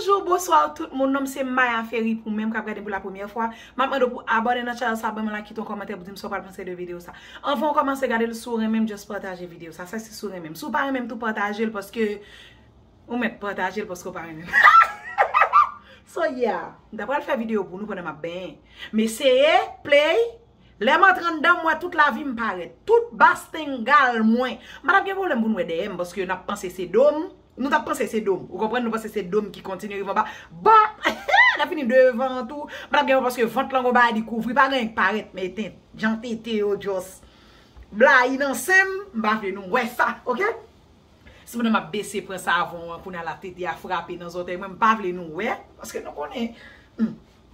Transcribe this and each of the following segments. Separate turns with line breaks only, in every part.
Bonjour bonsoir tout moun nom se maya ferry pou menm kap gade pou la premyè fwa map mande w pou abòne nan chanèl sa banm like kite yon kòmantè pou dim sa w pral panse de video sa anvan w kòmanse gade l si w renmen m just pataje video sa sa se si w renmen m si w pa renmen m tou pataje l paske ou mèt pataje l paske w pa renmen m hahaha so yeah m ta pral fè video pou nou pandan map benyen m eseye play lè m antre anndan m wè tout lavi m parèt tout bas tengal mwen m pa tap gen pwoblèm pou n wè dèyè m paske nap panse se do m. Nou tap panse se dom. Ou konprann nou panse se dom ki kontinye rive anba. Bon! Lè fini devan an tou. Patap gen yon paske vant lan gon bagay li kouvri. Pa gen anyen ki parèt men eten. Jan tete yo just blayi nan sen m. M pa vle nou wè sa. Ok? Sepandan map bese pran savon an. Kounya la tete a frape nan zòtèy mwen. M pa vle nou wè. Paske nou konnen.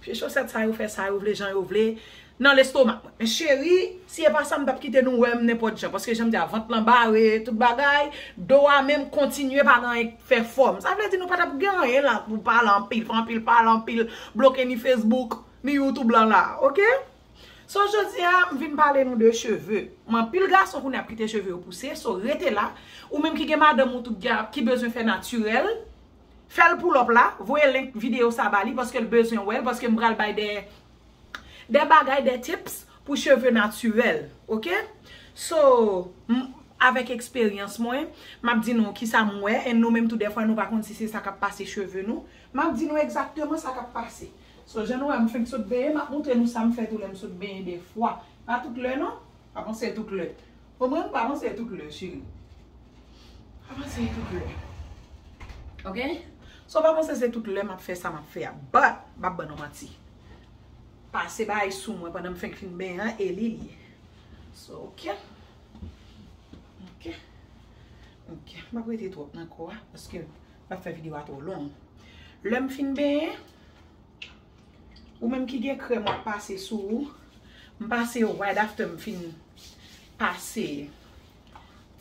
Vye chosèt sa yo fè sa yo vle jan yo vle nan lestomak mwen. Men cheri, si e pa sa m t ap kite nou wè m nenpòt jan. Paske jan m di a, vant lan bare tout bagay, do a menm kontinye pa gen anyen k fè fòm. Sa vle di nou pa t ap gen anyen la pou pale anpil, fè anpil pale, anpil bloke ni Facebook, ni YouTube lan la a. Oke? So jodi a, m vin pale nou de cheve. M anpil gason kounye a ap kite cheve yo pouse. So rete la. Ou menm ki gen madanm ou tout, ki bezwen fè natirèl. Fèl pull up la, voye link video sa ba li paske l bezwen wè l paske m pral bay de de bagay de tips pou cheve natirèl ok so m avèk eksperyans mwen map di nou kisa m wè e nou menm tou dèfwa nou pa konn si se sa kap pase cheve nou map di nou egzakteman sa kap pase so jan nou wè m fenk sot benyen map moutre nou sa m fè tou lè m sot benyen dèfwa pa tout lè non pa panse tout lè. Bon mwen pa panse tout lè cheri. Pa panse tout lè. Ok? So pa panse se tout lè map fè sa map fè a. But, map ban nou manti. Pase bagay sou mwen pandan m fenk fin benyen an e li li. So ok. Ok. Ok. Map rete twòp nan kò a paske map fè video a twò long. Lè m fin benyen. Ou menm ki gen krèm wap pase sou ou. M pase yo right after m fin pase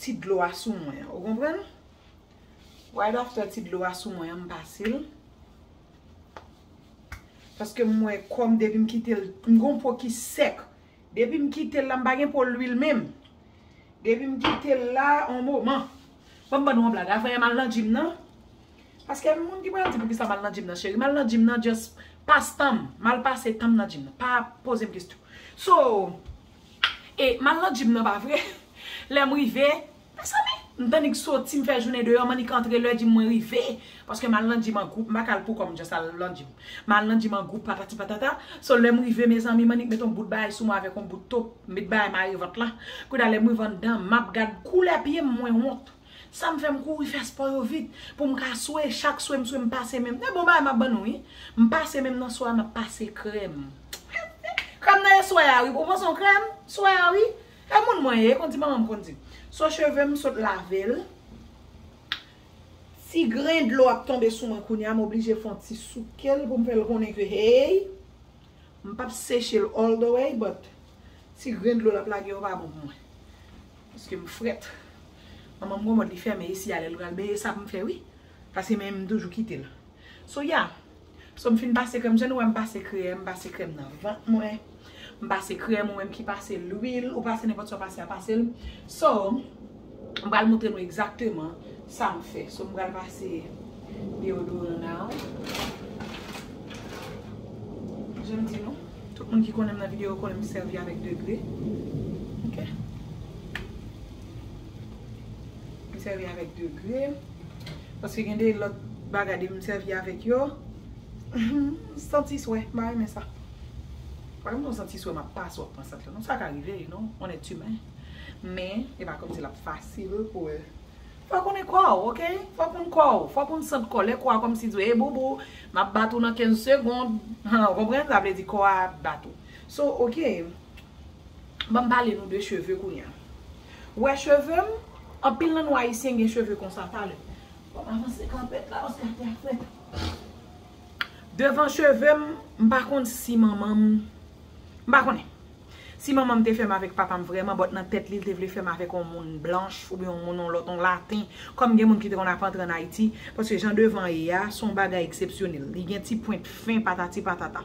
ti dlo a sou mwen an. Ou konprann? Right after ti dlo a sou mwen an m pase l. Paske m wè kò m depi m kite l, m gen yon po ki sèk. Depi m kitel la m pa gen po lwil menm depi m kitel la on moman fòm ban nou on blag afè mal nan gym nan paske gen moun ki pral di poukisa mal nan gym nan cheri mal nan gym nan just pas tanm mal pase tanm nan gym nan pa pozem kesyon so e mal nan gym nan pa vre lèm rive Mezanmi! M tann ik soti, m fè jounen deyò, m annik antre lè dim mwen rive. Paske m al nan dim an gwoup, m pa ka al poukò m just al nan dim. M al nan dim an gwoup patati patata. So lè m rive mezanmi m annik met on bout bagay sou mwen avèk on bout top, m met bagay mare vant la. Kounya lè m rive anndan, m ap gad koulè pye m, mwen wont. Sa m fè m kouri fè spò yo vit pou m ka swe, chak swe m swe m pase men m. Se bon bagay m ap ban nou wi. M pase men m nan swa a, m ap pase krèm. Krèm nan e swa a wi. Ou panse on krèm? Swa a wi. E moun mwen ye konn di manmanm konn di. So chevem m sot lavel. Ti gren dlo ap tonbe sou mwen kounya m oblije fon ti soukel poum fèl konnen ke hey m pap sechel all the way but ti gren dlo lap lage yo pa bon pou mwen. Paske m frèt. Manmanm gon mòd li fèmen isi a lèl pral benyen sa poum fè wi. Paske men m toujou kitel. So yeah. So m fin pase krèm, jan nou wè m pase krèm, m pase krèm nan vant mwen, m pase krèm, ou menm ki pase lwil, ou pase nenpòt sa w pase a pase l. So, m pral montre nou egzakteman sa m fè. So m pral pase deyodoran nan. Jan m di nou, tout moun ki konnen m nan videyo yo konnen m sèvi avèk degre. Ok. M sèvi avèk degre. Paske gen de lòt bagay depi m sèvi avèk yo, m santi swè, m pa renmen sa. Pa gen pou m santi swè m ap pase w ap pran sant lan non, sa ka rive you know, on est humain. Men, e pa kòmsi l ap fasil pou l. Fò w konnen kò w ok, fò w konn kò w, fò w konn sant kòlè kò a kòmsi di w ey booboo, m ap bat ou nan 15 segond, han, ou konprann, sa vle di kò a ap bat ou. So ok, banm pale nou de cheve kounya. Wè cheve m, anpil nan nou ayisyen gen cheve konsa talè. Wap avanse kanpèt la paske ate a frèt. Devan cheve m, m pa konn si manman m, m pa konnen. Si manman m te fè m avèk papa m vrèman but nan tèt li l te vle fè m avèk yon moun blanch oubyen yon moun yon lòt yon laten kòm gen moun ki te konn ap antre an Ayiti paske jan devan an ye a son bagay eksepsyonèl. Li gen ti pwent fen patati patata.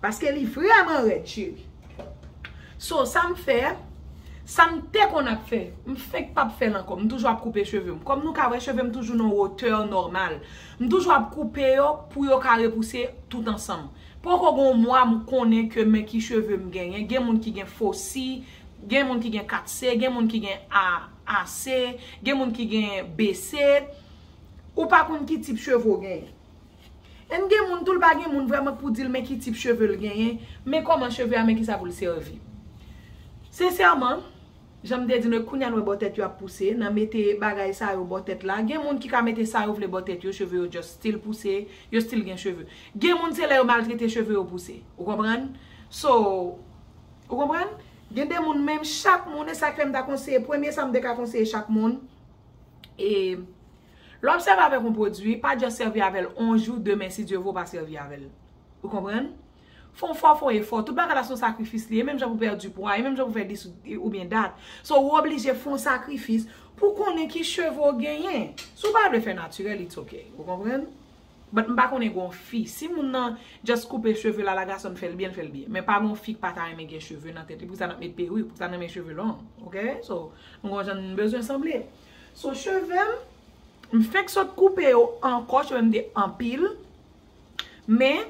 Paske li vreman red cheri. So sam fè, sam te konn ap fè, m fenk pap fèl ankò. M toujou ap koupe cheve m. Kòm nou ka wè cheve m toujou nan wotè nòmal. M toujou ap koupe yo pou yo ka repouse tout ansanm. Poko gon mwa m konnen ke men ki cheve m genyen. Gen moun ki gen fo si, gen moun ki gen 4 se, gen moun ki gen a a se, gen moun ki gen be se. Ou pa konn ki tip cheve w genyen. Em gen moun toul pa gen moun vrèman k pou dil men ki tip cheve l genyen, men kòman cheve a men kisa pou l sèvi. Sensèman, janm te di nou e kounya n wè bò tèt yo ap pouse, nan mete bagay sa yo bò tèt la, gen moun ki ka mete sa yo vle bò tèt yo, cheve yo just stil pouse, yo stil gen cheve. Gen moun se lè yo maltrete cheve yo pouse. Ou konprann? So, ou konprann? Gen de moun menm chak moun e sak fè m ta konseye premye sa m te ka konseye chak moun e. Lè w ap sèvi avèk yon pwodui, pa just sèvi avè l yon jou, demen si Dye vle w pa sèvi avè l. Ou konprann? Fè w fò, fè w efò. Tout bagay la se yon sakrifis li ye. E menm jan pou w pèdi pwa, e menm jan pou w fè dis oubyen dat. So ou oblije fè yon sakrifis pou w konnen ki cheve w genyen. Si w pa vle fè natirèl, it's ok. Ou konprann? But m pa konnen gen yon fi. Si moun nan just koupe cheve l ala gason l fè l byen, l fè l byen. Men pa gen yon fi k pa ta renmen gen cheve nan tèt li. Poukisa n ap met perik? Poukisa n renmen cheve long? Ok? So, nou gen yon jan n bezwen sanble. So cheve m, m fenk sot koupe yo ankò, cheve m te anpil. Men,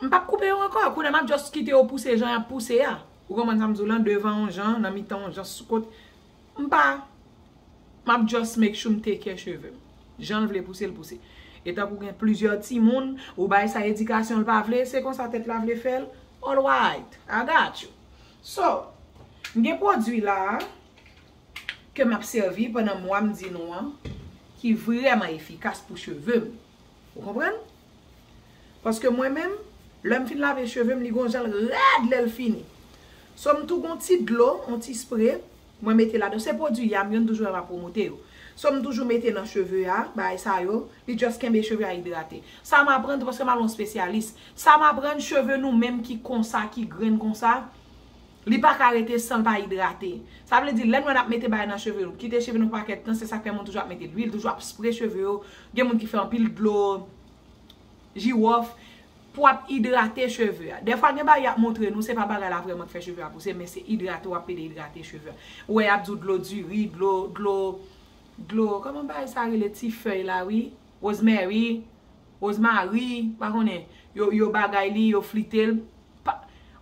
m pap koupe yo ankò, kounye a m ap just kite yo pouse jan y ap pouse a. Ou konprann sa m di w lan, devan yon jan, nan mitan yon jan, sou kot. M pa, m ap just make sure m take care cheve m. Jan l vle pouse, l pouse. E tankou gen plizyè timoun, ou bay sa edikasyon l pa vle, se konsa tèt la vle fè l, alright, I got you. So, m gen pwodui la a. ke m ap sèvi pandan mwa m di nou an ki vrèman efikas pou cheve m. Ou konprann? Paske mwen menm, lè m fin lave cheve m li gon jan l rèd lè l fini. So m tou gon ti dlo, on ti spre, mwen mete ladan. Se pwodui Yam yo, n toujou renmen ap pwomote yo. So m toujou mete nan cheve a, bagay sa yo, li just kenbe cheve a idrate. Sa m aprann se paske m al on spesyalis. Sa m aprann, cheve nou menm ki konsa, ki grenn konsa, Li pa ka rete san l pa idrate. Sa vle di lè nou wè n ap mete bagay nan cheve nou, kite cheve nou pou pakèt tan, se sa k fè moun toujou ap mete luil, toujou ap spre cheve yo, gen moun ki fè anpil dlo, jiwòf, pou ap idrate cheve a. Dèfwa gen bagay y ap montre nou, se pa bagay la vrèman k fè cheve a pouse, men se idrate w ap pede idrate cheve a. Ou wè y ap di w dlo diri, dlo, dlo, dlo, kòman bagay sa rele ti fèy la wi, rosemary. Rose Marie pa konnen yo bagay li yo flite l pa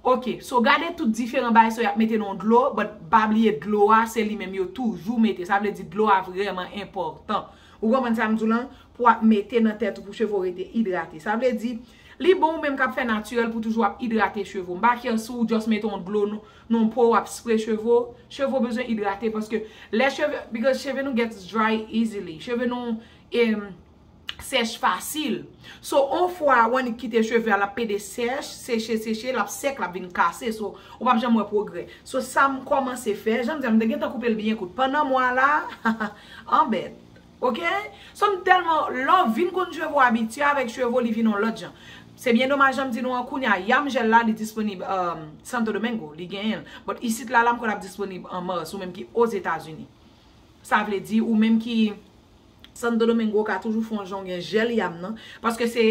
ok so gade tout diferan bagay sa yo ap mete nan yon dlo but pa bliye dlo a se li menm yo toujou mete sa vle di dlo a vrèman enpòtan ou konprann sa m di w lan pou ap mete nan tèt ou pou cheve w rete idrate sa vle di li bon ou menm k ap fè natirèl pou toujou ap idrate cheve w m pa kè si w just mete yon dlo nan yon po w ap spre cheve w cheve w bezwen idrate paske lè cheve because cheve nou gets dry easily cheve nou e. sèch fasil. So on fwa ou annik kite cheve a l ap pede sèch, seche, seche, l ap sèk, l ap vin kase. So ou pap janm wè pwogrè. So sa m kòmanse fè, jan m di a m te gentan koupe l byen kout. Pandan mwa a la, anbèt. Ok? So m tèlman, lè w vin konn cheve w, ou abitye avèk cheve w, li vin on lòt jan. Se byen domaj jan m di nou an kounye a, Yam Gel la li disponib Santo Domingo, li genyen l. But isit la la m kwè l ap disponib an Mars, ou menm ki Ozetazini. Sa vle di ou menm ki Santo Domingo ka toujou fon jan w gen jèl yam nan paske se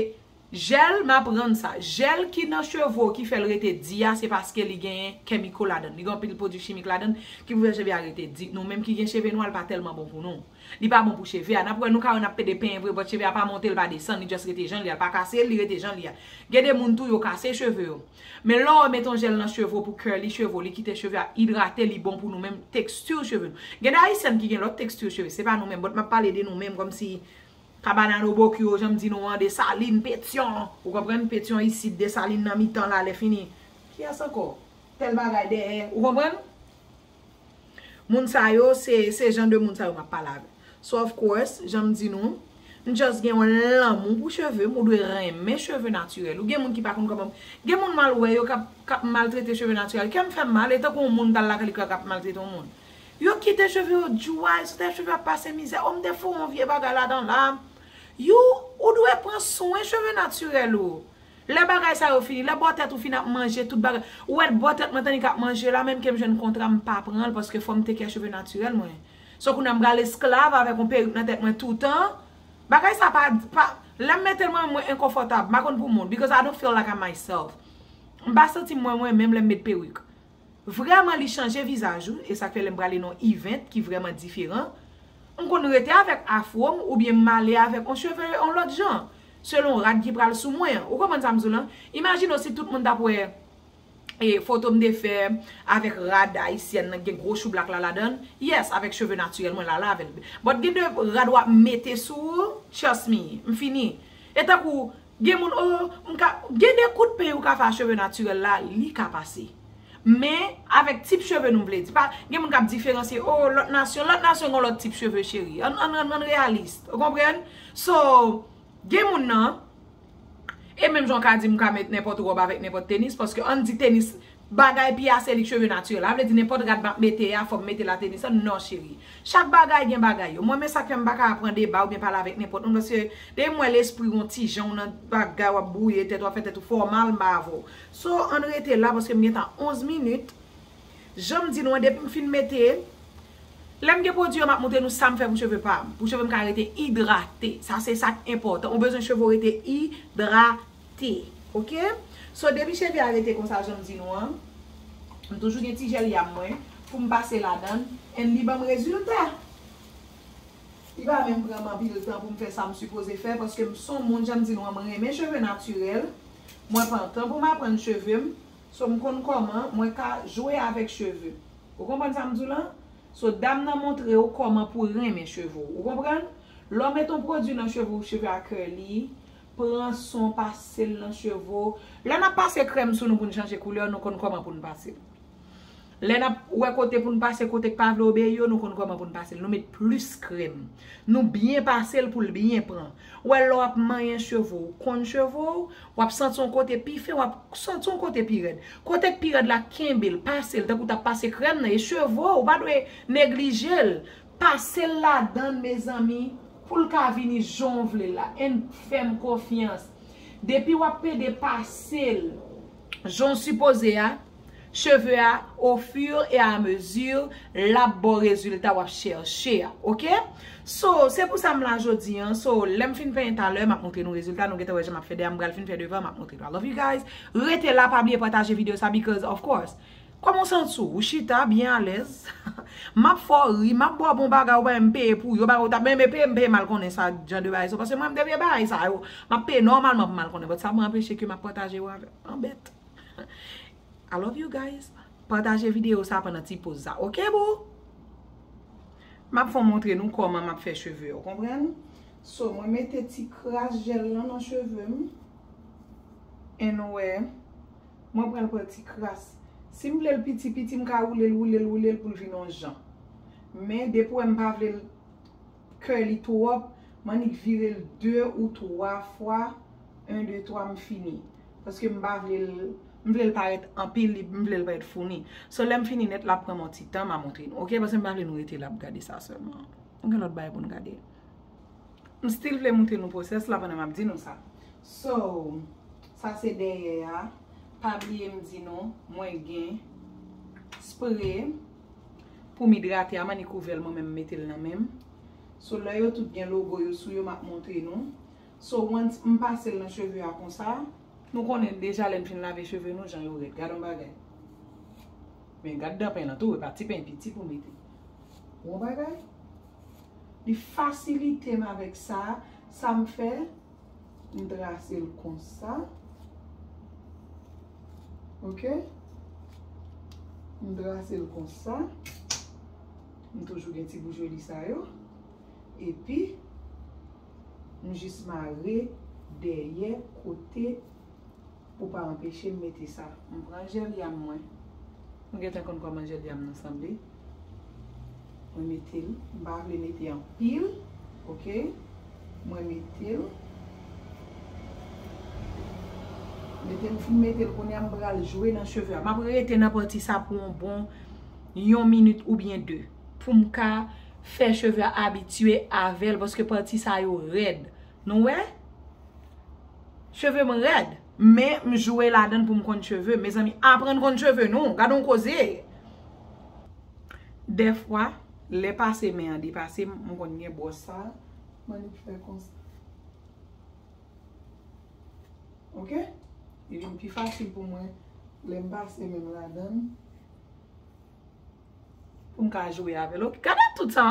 jèl m aprann sa jèl ki nan cheve w ki fè l rete di a se paske li genyen kemiko ladan l li gen anpil pwodui chimik ladan l ki pou fè cheve a rete di nou menm ki gen cheve nwa l pa tèlman bon pou nou li pa bon pou cheve a n ap wè nou ka wè n ap pede penyen vre bòt cheve a pa monte l pa desann li just rete jan l ye a l pa kase li rete jan l ye a gen de moun tou yo kase cheve yo. Men lè w met yon jèl nan cheve w pou curly cheve w li kite cheve a idrate li bon pou nou men texture cheve nou. Gen de Haitian ki gen lòt texture cheve se pa nou menm but map pale de nou menm kòm si Cabanano Bocchio jan m di nou an Dessalines Pétion ou konprann Pétion isit Dessalines nan mitan la lè fini kiyès ankò tèl bagay dèyè ou konprann. Moun sa yo, se se jan de moun sa yo m ap pale avè. So of course, jan m di nou, m just gen yon lanmou pou cheve m, ou dwe renmen cheve natirèl ou. Gen moun ki pa konn kòman, gen moun m al wè yo k ap k ap maltrete cheve natirèl, kè m fè m mal, e tankou yon moun t al lakay li k ap maltrete yon moun. Yo kite cheve yo djway, sou tèt cheve yo ap pase mizè, o m te foure yon vye bagay ladan la. You, ou dwe pran swen cheve natirèl ou. Lè bagay sa yo fini, lè bò tèt ou fin ap manje tout bagay, ou wè bò tèt mwen tande kap manje la menm kem jwenn kontra m pa pranl paske fòm tekè cheve natirèl mwen. So kounya m pral esklav avèk yon perik nan tèt mwen toutan, bagay sa pa pa lèm metel mwen menm mwen enkonfòtab m pa konn pou moun because I don't feel like I'm myself. M pa santim mwen mwen menm lèm met perik. Vrèman li chanje vizaj ou e sak fè lèm prale nan event ki vrèman diferan m konn rete avèk afro m oubyen m ale avèk on cheve on lòt jan selon rad ki pral sou mwen an ou konprann sam di w lan imajine w si tout moun tap wè e foto m te fè avèk rad ayisyèn nan ki gen gwo choublak la ladann yes avèk cheve natirèl mwen la la avèl but gen de rad wap mete sou ou trust me m fini e tankou Gen moun oo, m ka, gen de kout peny ou ka fè a cheve natirèl la, li ka pase. Men, avèk tip cheve nou vle di. Pa, gen moun k ap diferansye, oo, lòt nasyon, lòt nasyon gen lòt tip cheve cheri. Ann, ann, ann reyalis. Ou konprann? So, gen moun nan, e menm jan w ka di m ka met nenpòt wòb avèk nenpòt tenis, paske ann di tenis, Bagay pi a se li cheve naturel a vle di nenpòt rad map mete a fòm mete la tenis an non cheri chak bagay gen bagay yo mwen men sak fèm paka pran deba oubyen pale avèk nenpòt moun paske depim wè lespriw yon ti jan ou nan bagay wap brouye tèt wap fè tèt ou fè w mal mpa avèw so ann rete la paske m gentan 11 minit janm di nou an depim fin mete lèm gen pwodwi an map moutre nou sam fè pou cheve pam pou chevem ka rete idrate sa se sak enpòtan ou bezwen cheve w rete idrate. T ok so depi cheve a rete konsa janm di nou an m toujou gen ti jèl yam mwen poum pase ladann and li banm rezilta li pa menm pranm anpil tan poum fè sam sipoze fè paske m son moun janm di nou an m renmen cheve natirèl mwen pran tan poum aprann chevem so m konn kòman mwen ka jwe avèk cheve ou konprann sam diw lan so dam nan montrew kòman pou renmen cheve w ou konprann lè w met on pwodwi nan cheve w cheve a curly. Pran son pasel nan cheve w. Lè nap pase krèm sou nou poun chanje koulè nou konn kòman poun pasel. Lè nap wè kote poun pase kotek pa vle obeyi yo nou konn kòman poun pasel nou met plis krèm nou byen pasel poul byen pran ou wè lè wap manyen cheve w konn cheve w wap santi yon kote pi fen wap santi yon kote pi rèd kotek pi rèd la kenbel pasel tankou tap pase krèm nan e cheve w ou pa dwe neglijel Pasel ladann mezanmi poul ka vini janw vle la and fèm konfyans depi wap pede pasel janw sipoze a cheve a o fur e a mesure lap baw rezilta wap chèche a ok so se pou sa m la jodi an so lèm fin penyen talè map montre nou rezilta nou gentan wè jan map fè dèyè m pral fin fè devan map montre nou I love you guys rete la pa bliye pataje video sa because of course. Kòman w santi w? Ou chita byen alèz? M ap fè w ri, m ap ba w bon bagay ou pa menm peye pou yo, bagay ou ta men men peye m peye m al konnen sa jan de bagay sa yo pase mwen m debyen bagay sa yo m ap peye nòmalman pou m al konnen bòt sa pa anpeche ke m ap pataje yo avè w anbèt I love you guys pataje videyo sa pandan ti poz sa ok boo m ap fè w montre nou kòman m ap fè cheve yo konprann so mwen mete ti kras jèl lan nan cheve m en nou wè. Mwen pran l pati kras. Si m vle l piti piti m ka woule l woule l woule l pou l vin on jan. Men depi w wè m pa vle l curly twòp, m annik vire l 2 ou 3 fwa, 1 2 3 m fini. Paske m pa vle l, m vle l parèt anpil, li, m vle l parèt founi. So lè m fini nèt l ap pran m on ti tan m a montre nou ok. Paske m pa vle nou rete la ap gade sa sèlman. Nou gen lòt bagay pou n gade. M still vle moutre nou process la pandan map di nou sa. So, sa se dèyè a, pa bliye m di nou mwen gen spray poum idrate a mani kouvel mwen menm m metel nan menm. So lè yo tout gen logo yo sou yo map moutre nou. So once m pasel nan cheve a konsa. Nou konnen deja lèn fin lave cheve nou jan yo rèd. Gad on bagay. Men gad dan pen lan tou e pa ti pen piti pou mete. Bon bagay. Li fasilite m avèk sa, sa m fè, m trase l konsa, ok, m trase l konsa, m toujou gen ti boujoli sa yo, epi m jis mare dèyè kote. Ou pa anpeche m mete sa. M pran jèl yanm mwen. Nou gentan konn kòman jèl yanm nou sanble. Mwen mete l. M pa vle mete anpil. Ok. Mwen mete l. Mete m fin mete l kounye a m pral jwe nan cheve a. M ap rete nan pati sa pou yon bon yon minit oubyen de. Pou m ka fè cheve a abitye avè l paske pati sa yo rèd. Nou wè? Cheve m rèd. Men m jwe ladann pou m konn cheve. Mezanmi, aprann konn cheve nou. Gade yon koze. Dèfwa, lè pase men an depase m, m konn gen bwòs sa. Mwen li fè konsa. Ok? Li vin pi fasil pou mwen lè m pase men m ladann. Pou m ka jwe avè l. Gade tout sa.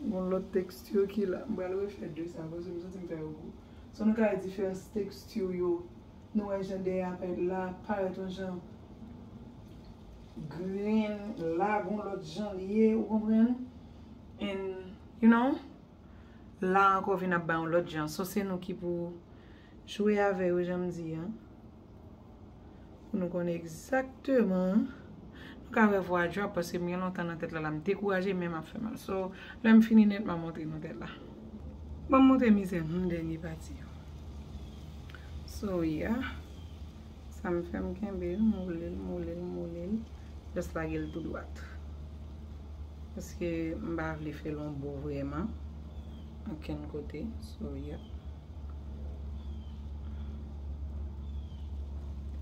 Gon lòt texture ki la. M pral refè 2 sa paske m santi m fè yo gou. Son nou ka wè diferans texture yo. Nou wè jan dèyè a parèt la a parèt yon jan green la a gon lòt jan li ye ou konprann. And you know la a ankò vin ap bay yon lòt jan. So se nou ki pou jwe avè yo jan m di an. Pou nou konnen egzakteman. Nou ka wè vwa Drop paske m gen lontan nan tèt la la m dekouraje menm ap fè mal. So lè m fini nèt m a montre nou tèt la. Ban m montre mizè m humm dènye pati yo. So yeah. Sa m fè m kenbe l m woule l m woule l m woule l just lage l tou dwat. Paske m pa vle fè l on bo vrèman. Ankenn kote so yap.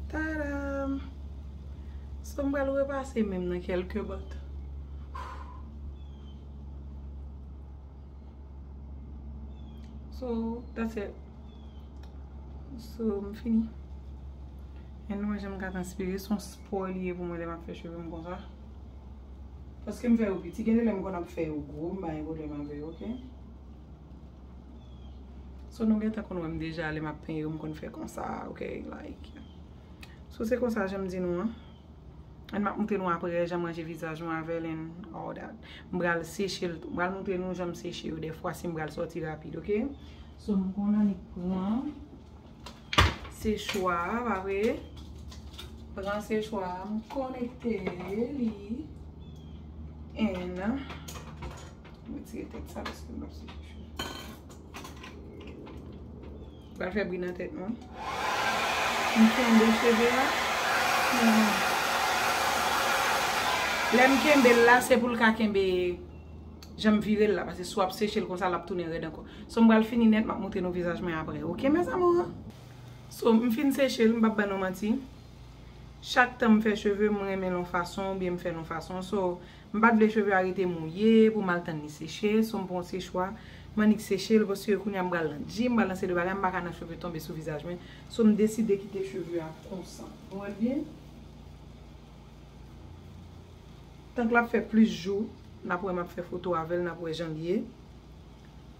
Tadam! So m pral repase menm nan kelke bòt. So that's it. So m fini. Anyway jan m ka transpire son spò li ye pou mwen lè map fè cheve m konsa. Paske m fè yo piti, gen de lè m konn ap fè yo gwo, m pa gen pwoblèm avè yo, ok. So nou gentan konn wè m deja lè m ap penyen yo m konn fè konsa, ok, like. So se konsa jan m di nou an. Ann m ap montre nou aprè jan m ranje vizaj mwen avè l and all that. M pral seche l tou. M pral montre nou jan m seche yo dèfwa si m pral sòti rapid, ok. So m konn annik pran. Sechwa a pa vre. Pran sechwa a m konekte li. N. M retire tèt sa paske m pap seche chou. Li pral fè bri nan tèt nou. M kenbe cheve a. Lè m kenbe l la se pou l ka kenbe. Janm virel la pase si wap sechel konsa lap tounen rèd ankò so m pral fini nèt map moutre nou vizaj mwen aprè ok mes amours so m fin sechel m pap ban nou manti chak tan m fè cheve m renmen l yon fason oubyen m fè l yon fason so m pat vle cheve a rete mouye pou m al tann li seche so m pran yon sechwa m annik sechel paske kounya m pral nan gym m pral nan se de bagay m paka nan cheve tonbe sou vizaj mwen so m deside kite cheve a konsa nou wèl byen. Tank lap fè plis jou nap wè map fè foto avèl nap wè janl ye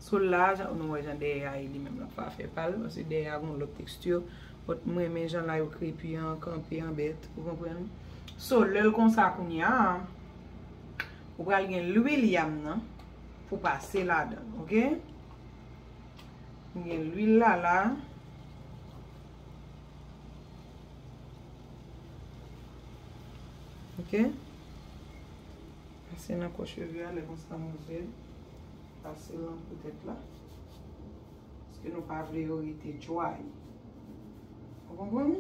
so la nou wè jan dèyè a ye li menm lap fè afè pal paske dèyè a gon lòt texture but m renmen jan layo krepi an kanpe an bèt ou konprann so lèl konsa kounya ou pral gen lwil yam nan pou pase ladanl ok m gen lwil la la. Ok. Pase nan kò cheve a lè konsa nou vle pase nan kò tèt la. Paske nou pa vle yo rete dway. Ou konprann?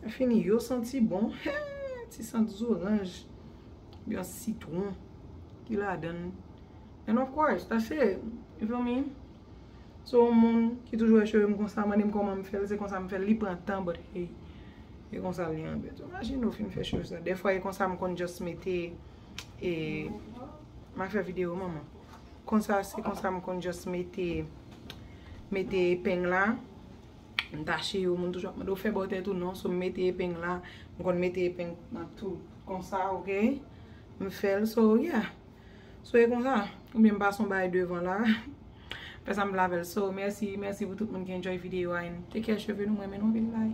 Yo fini yo santi bon. Hee! Ti sant zoranj. Yon sitwon. Ki ladann. An of course. Pase. You feel me? Se yon moun ki toujou wè chevem konsa mande m koman m fèl se konsa m fèl li pran tan but hey e konsa li anbyn tou imagine ou fin fè cheve sa dèfwa e konsa m konn just mete e ma fè video manman konsa se konsa m konn just mete mete epeng la m tache yo moun toujou ap mande ou fè bò tèt ou non so m mete epeng la m konn mete epeng nan tou konsa ok m fèl so yeah. So e konsa, ou byen m pa son bay devan la. Fè sa m vle avèl. So, mèsi, mèsi pou tout moun ki enjoy video a and take care cheve nou. M renmen nou anpil bye.